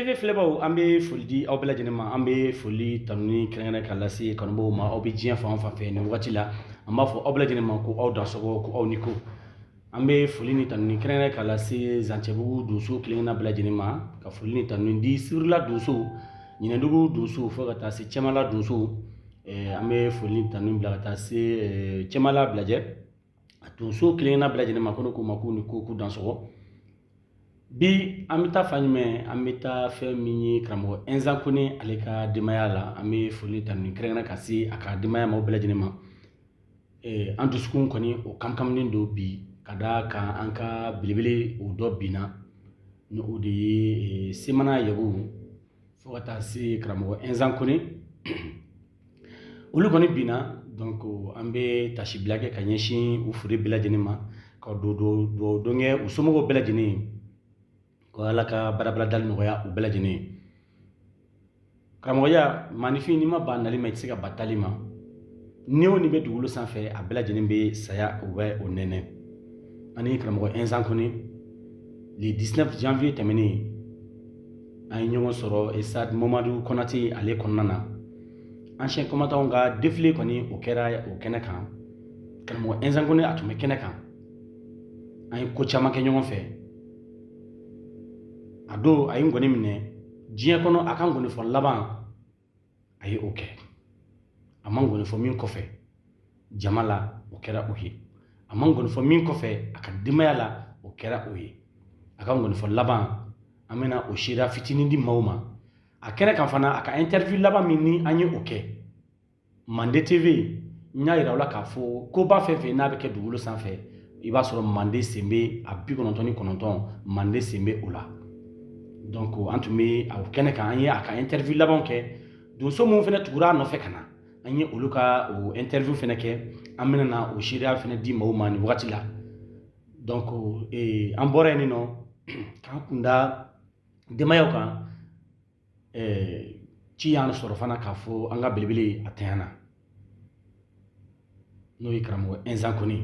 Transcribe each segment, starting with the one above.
TV filɛbaaw an bɛ foli di aw bɛɛ lajɛlen ma an bɛ foli tanuni kɛrɛnkɛrɛn ka lase kanubaaw ma aw bɛ diɲɛ fan o fan fɛ nin wagati la an b'a fɔ aw bɛɛ lajɛlen ma ko aw dansɔgɔ ko aw ni ko an bɛ foli ni tanuni kɛrɛnkɛrɛn ka lase zancɛbugu donso kelenkelen bɛɛ lajɛlen ma ka foli ni tanu di sirila donso ɲinɛdugu donso fo ka taa se cɛmala donso an bɛ foli ni tanu bila ka taa se cɛmala bilajɛ a donso kelenna bɛɛ lajɛlen ma ko ne k'u ma k'u ni ko k'u dansɔgɔ bi an bɛ taa fan jumɛn an bɛ taa fɛn min ye karamɔgɔ ɛnzan kone ale ka denbaya la an bɛ foli tanuni kɛrɛnkɛrɛn ka se a ka denbaya ma o bɛɛ lajɛlen ma an dusukun kɔni o kamikaminen don bi ka d'a kan an ka belebele o dɔ binna ni o de ye semana yago fo ka taa se karamɔgɔ ɛnzan kone olu kɔni binna donc an bɛ tasibila kɛ ka ɲɛsin u fure bɛɛ lajɛlen ma ka dugawu don kɛ u somɔgɔw bɛɛ lajɛlen ye ko ala ka barabara dali nɔgɔya u bɛɛ lajɛlen ye karamɔgɔya maaninfin n'i ma ban nali ma i tɛ se ka ban taali ma ni o ni bɛ dugukolo sanfɛ a bɛɛ lajɛlen bɛ saya u bɛ o nɛnɛ ani karamɔgɔ ɛnzan kone le 19 janvier tɛmɛnen an ye ɲɔgɔn sɔrɔ stade mamadu konate ale kɔnɔna na anciens combattants ka défilé kɔni o kɛra o kɛnɛ kan karamɔgɔ ɛnzan kone a tun bɛ kɛnɛ kan an ye ko caman kɛ ɲɔgɔn fɛ a don a ye nkɔni minɛ diɲɛ kɔnɔ a ka nkɔnifɔ laban a ye o kɛ a ma nkɔni fɔ min kɔfɛ jama la o kɛra o ye a ma nkɔni fɔ min kɔfɛ a ka denbaya la o kɛra o ye a ka nkɔni fɔ laban an bɛna o seereya fitinin di maaw ma a kɛnɛ kan fana a ka interview laban min ni an ye o kɛ mande tv n y'a yira aw la k'a fɔ koba fɛn fɛn n'a bɛ kɛ dugukolo sanfɛ i b'a sɔrɔ mande sen bɛ a bi kɔnɔntɔn ni kɔnɔntɔn mande sen bɛ o la donc an tun bɛ a kɛnɛ kan an ye a ka interview labanw kɛ donso minnu fana tugura a nɔfɛ ka na an ye olu ka o interview fana kɛ an bɛna na o seereya fana di maaw ma nin wagati la donc an bɔra yen nɔ k'an kun da denbayaw kan ci y'an sɔrɔ fana k'a fɔ an ka belebele a ntanyana n'o ye karamɔgɔ ɛnzan kone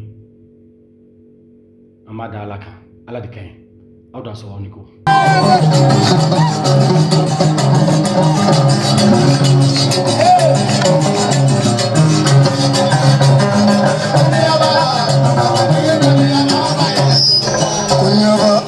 an b'a da ala kan ala de ka ɲi aw dansɔgɔ aw ni ko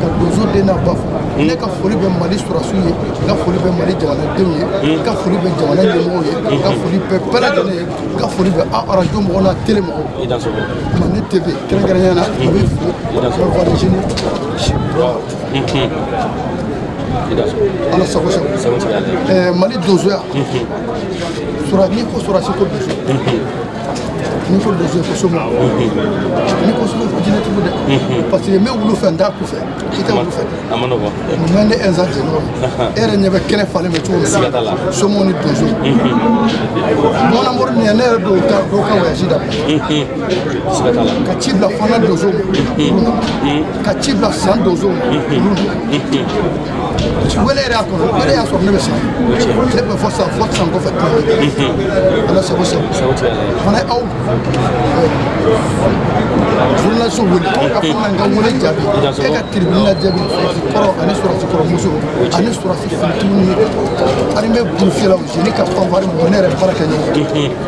ka donso den n'a ba fo hmm. ne ka foli bɛ mali sɔrɔsiw ye n ka foli bɛ mali jamanadenw ye hmm. n ka foli bɛ jamana ɲɛmɔgɔw ye n ka hmm. foli bɛ bɛɛ lajɛlen ye n ka foli bɛ arajo mɔgɔw n'a tele mɔgɔw mande tv kɛrɛnkɛrɛnnenya na a bɛ fo ala sago sago mali donsoya sura n'i ko sɔrɔsi ko donso n'i ko donso ko soma n'i ko soma ko jinɛtigiw dɛ parce que n bɛ wulu fɛ n t'a ku fɛ i tɛ wulu fɛ mais ne ɛnzan jɛɲɔgɔn e yɛrɛ ɲɛ bɛ kɛnɛ falen bɛ cogo min na somaw ni donso mɔnamori nin ye ne yɛrɛ don ka wayasi dabila ka ci bila fana donso ma ka ci bila san donso ma wele yɛrɛ y'a kɔnɔ wele y'a sɔrɔ ne bɛ san ne bɛ fo san fo san kɔfɛ ala sago sago fana aw journaliste wele ka fana ka wele jaabi e ka tribune la jaabi sɔrɔsi kɔrɔ ani sɔrɔsi kɔrɔ muso ani sɔrɔsi fitininw ye ani bɛ burufiyɛlaw jeni ka fanfari mɔgɔ ne yɛrɛ baarakɛɲɔgɔn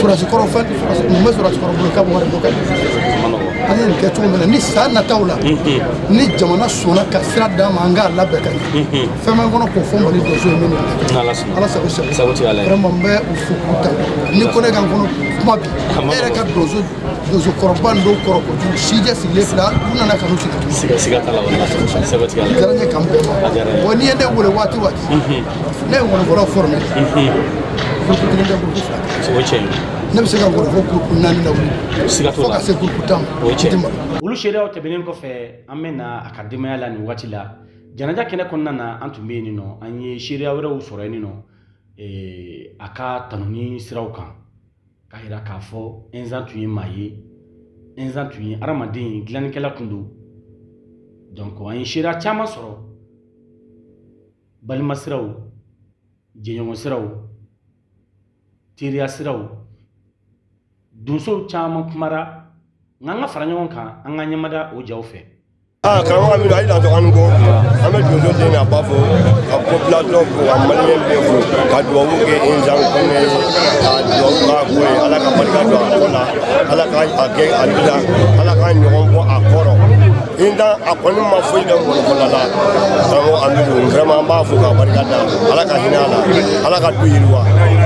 sɔrɔsi kɔrɔ fɛn mun bɛ sɔrɔsi kɔrɔ bolo k'a bɛ wari bɔ ka an ye nin kɛ cogo min na ni san nataw la ni jamana sɔnna ka sira d'an ma an k'a labɛn ka ɲɛ fɛn b'an kɔnɔ k'o fɔ mali donso ye min ala sago sago vraiment n bɛ u fo k'u tanu ko ne ka n kɔnɔ kuma bi ne yɛrɛ ka donso donso kɔrɔba nin dɔw kɔrɔ kojugu sijɛ sigilen filɛ u nana ka n'u sigi diyara n ye k'an bɛɛ ma wa n'i ye ne wele waati waati ne ye wɔlɔfɔlaw forme groupe kelen tɛ groupe fila o ye tiɲɛ ye ne bɛ se ka wɔlɔfɔ groupe naani lawuli siga t'o fo la ka se groupe tan ma o ye tiɲɛ ye olu seereyaw tɛmɛnen kɔfɛ an bɛ na a ka denbaya la nin waati la janaja kɛnɛ kɔnɔna na an tun bɛ yen nɔ an ye seereya wɛrɛw sɔrɔ yen nɔ eh, a ka tanuni siraw kan k'a jira k'a fɔ ɛnzan tun ye maa ye ɛnzan tun ye adamaden ye dilannikɛla tun don donc an ye seereya caman sɔrɔ balima siraw jɛɲɔgɔn siraw teriya siraw donsow caman kumara nka an ka fara ɲɔgɔn kan an ka ɲɛmada o jaw fɛ aa karamɔgɔ amidu a ye dan sɔrɔ an ko an bɛ donso den n'a ba fo ka population fo ka maliyɛn bɛɛ fo ka dubabu kɛ inzan kɔnɛ ka dubabu k'a kɔ ye ala ka barika don a kɔ la ala ka a kɛ a bila ala k'a ɲɔgɔn bɔ a kɔrɔ inza a kɔni ma foyi dɔn mɔgɔkɔla la karamɔgɔ amidu vraiment an b'a fo k'a barika da ala ka hinɛ a la ala ka du yiriwa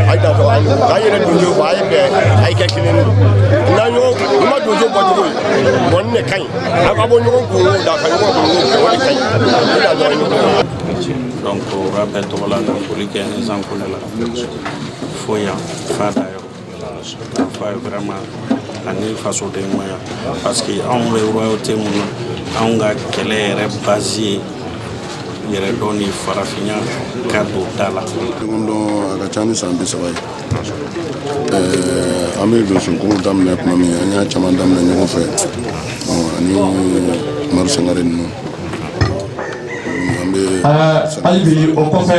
a ye dantɔ a ɲɔgɔn k'a yɛrɛ donso fɔ a ye bɛn a ye kɛ kelen ye n'a ɲɔgɔn i ma donso bɔ cogo ye bɔni de ka ɲi a ka bɔ ɲɔgɔn kun da ka ɲɔgɔn kun kɛ o de ka ɲi i dantɔ a ɲɔgɔn donc o b'a bɛɛ tɔgɔ la ka foli kɛ inza kone la fo yan f'a dayɔrɔ Vraiment ani fasodenɲumanya parce que anw bɛ royauté min na anw ka kɛlɛ yɛrɛ base ye yɛrɛdɔn ni farafinya ka don da la ɲɔgɔn dɔn a ka ca ni san bi saba ye an bɛ donsoko daminɛ tuma min an y'a caman daminɛ ɲɔgɔn fɛ ani umaru sangare ninnu an bɛ hali bi o kɔfɛ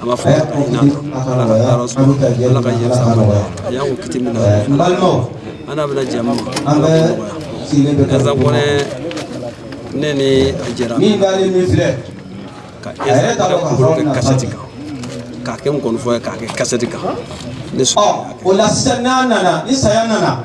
an b'a fɔ ko ɲina ala ka yɔrɔ sɔrɔ ala ka yɛrɛ sa ma a y'an kɔn kiti min na n balimaw an n'a bɛna jɛmu an bɛ sigilen bɛ inza kone ne ni a jɛra min dalen min filɛ ka inza ka kuru kɛ kasɛti kan k'a kɛ nkɔnifɔ ye k'a kɛ kasɛti kan ne sɔnna o la sisan n'a nana ni saya nana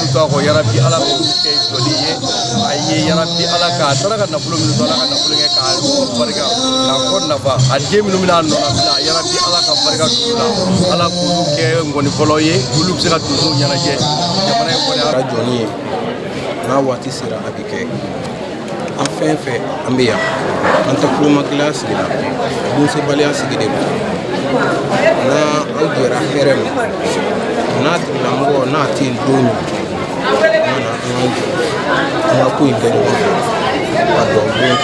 minnu to a kɔ yarabi ala k'olu kɛ jɔli ye a ye yarabi ala k'a taara ka nafolo min to ala ka nafolo kɛ k'a barika k'a kɔ nafa a den minnu bɛna a nɔnabila yarabi ala ka barika d'u la ala k'olu kɛ nkɔnifɔlaw ye olu bɛ se ka donso ɲɛnajɛ jamana in kɔni ka jɔni ye n'a waati sera a bɛ kɛ an fɛn fɛn an bɛ yan an tɛ kolomagɛlɛya sigi la donsebaliya sigi de don n'an jɛra hɛrɛ ma n'a tigilamɔgɔ n'a tɛ yen don min an ka na an k'an jɔ an ka ko in kɛ ɲɔgɔn fɛ ka dugawu don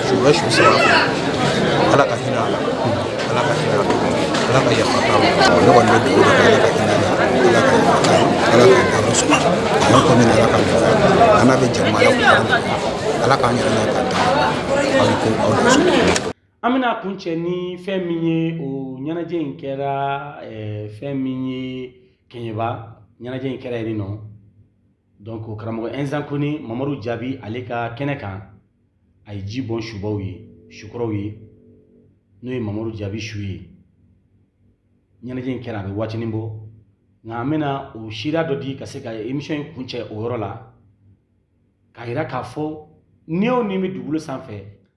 su bɛ su saba ala ka hinɛ a la ala k'an yɛrɛ n'a ka aw ni ko aw ni su an bɛna kuncɛ ni fɛn min ye o ɲɛnajɛ in kɛra fɛn min ye kɛɲɛba ɲɛnajɛ in kɛra yen nɔ donc karamɔgɔ inza kone mamadu jaabi ale ka kɛnɛ kan a ye ji bɔn subaw ye sukɔrɔw ye n'o ye mamadu jaabi su ye ɲɛnajɛ in kɛra a bɛ waatinin bɔ nka an bɛna o sira dɔ di ka se ka emission in kuncɛ o yɔrɔ la k'a yira k'a fɔ ni o ni bɛ dugukolo sanfɛ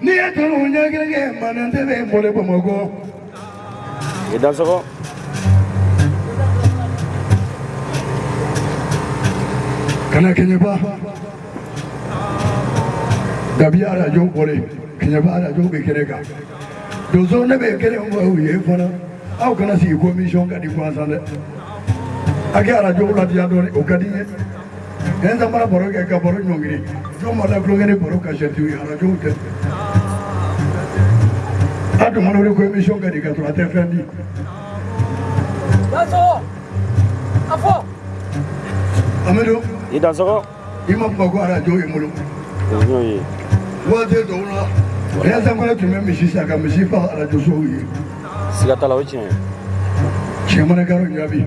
n'i ye kanu ɲɛ kelen kɛ manden tɛ bɛ boli bamakɔ. i da sɔgɔ. kana kɛɲɛba dabiya arajo bɔlen kɛɲɛba arajo bɛ kɛnɛ kan donso ne bɛ kelen fɔ aw ye fana aw kana sigi ko emisiyɔn ka di gansan dɛ a ka arajo ladiya dɔɔnin o ka di n ye. Nin samara baro kɛ ka baro ɲɔngiri jɔn ma da tulonkɛ ni baro ka sɛti ye arajo tɛ a tuma wele ko emisiyɔn ka di ka sɔrɔ a tɛ fɛn di a fɔ amadu i da sɔgɔ i ma kuma ko arajo ye bolo waati dɔw la nin samara tun bɛ misi san ka misi fa arajosow ye siga t'a la o tiɲɛ cɛ mana karo Jabi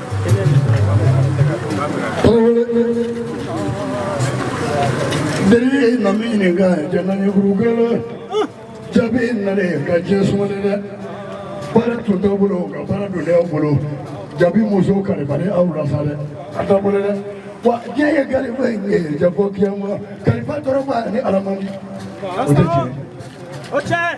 Bere na min ɲini ka jɛnɛ ni kurukɛla Jabi in nana ka diɲɛ sumali dɛ baara tun t'aw bolo ka baara don ne aw bolo Jabi musow kalifalen aw la sa dɛ a t'a bolo dɛ wa diɲɛ ye kalifa in ye jɛ fɔ kiyama kalifa dɔrɔn b'a ni alamandi o tɛ tiɲɛ ye.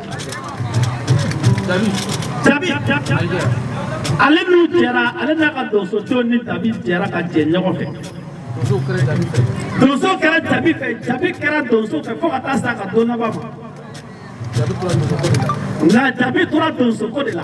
ale n'u jɛra ale n'a ka donso cɛw ni Jabi jɛra ka jɛ ɲɔgɔn fɛ donso kɛra Jabi fɛ Jabi kɛra donso fɛ fo ka taa se a ka don laban ma nka Jabi tora donso ko de la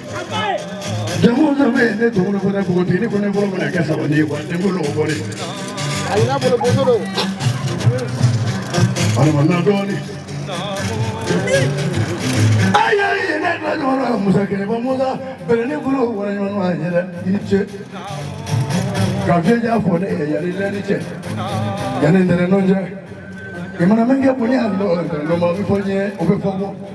jamu dɔ bɛ yen ne tɔgɔ ko ne npogotigi ne ko ne bolo bɛna kɛ sabali ye wa ne ko lɔgɔ bɔ de. a y'a bolo boso don. alama na dɔɔni. ayi ayi ne tila ɲɔgɔn na musa kelen ko musa bɛrɛ ne bolo wara ɲɔgɔn na a ɲɛ dɛ i ce. ka fiɲɛ ja fɔ ne ye yanni lɛri cɛ yanni ntɛnɛndon cɛ. i mana min kɛ bonya ani dɔgɔ ntɛnɛndon ma o bɛ fɔ ɲɛ o bɛ fɔ bɔ.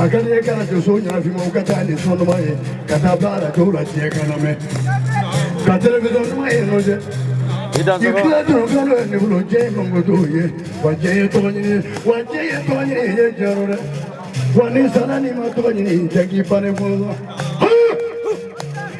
akali ye k'arajoso ɲɛnafima u ka taa ni sɔn duman ye ka taa bila arajow la diɲɛ k'a lamɛn ka telewisɔn duman ye nɔ jɛ i kila dɔrɔn ka n'o ye ne bolo jɛ ye mankutu ye wa jɛ ye tɔgɔ ɲini ye wa jɛ ye tɔgɔ ɲini ye ye jɛyɔrɔ dɛ wa n'i sara n'i ma tɔgɔ ɲini jɛ k'i bannen fɔlɔ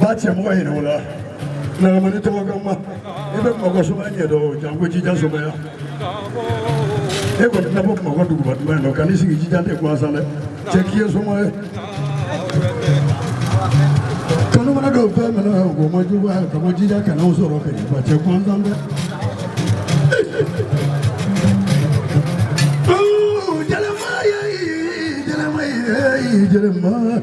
ba cɛ mɔgɔ yɛrɛ o la nagamani tɔgɔ kama i bɛ mɔgɔ somaya ɲɛ dɔn janko jija somaya e kɔni tɛna bɔ mɔgɔ duguba duman dɔn ka n'i sigi jija tɛ gansan dɛ cɛ k'i ye soma ye kanu mana dɔw fɛn minɛ o ma jugu ka bɔ jija kana o sɔrɔ kɛ wa cɛ gansan dɛ Jelema, jelema, jelema.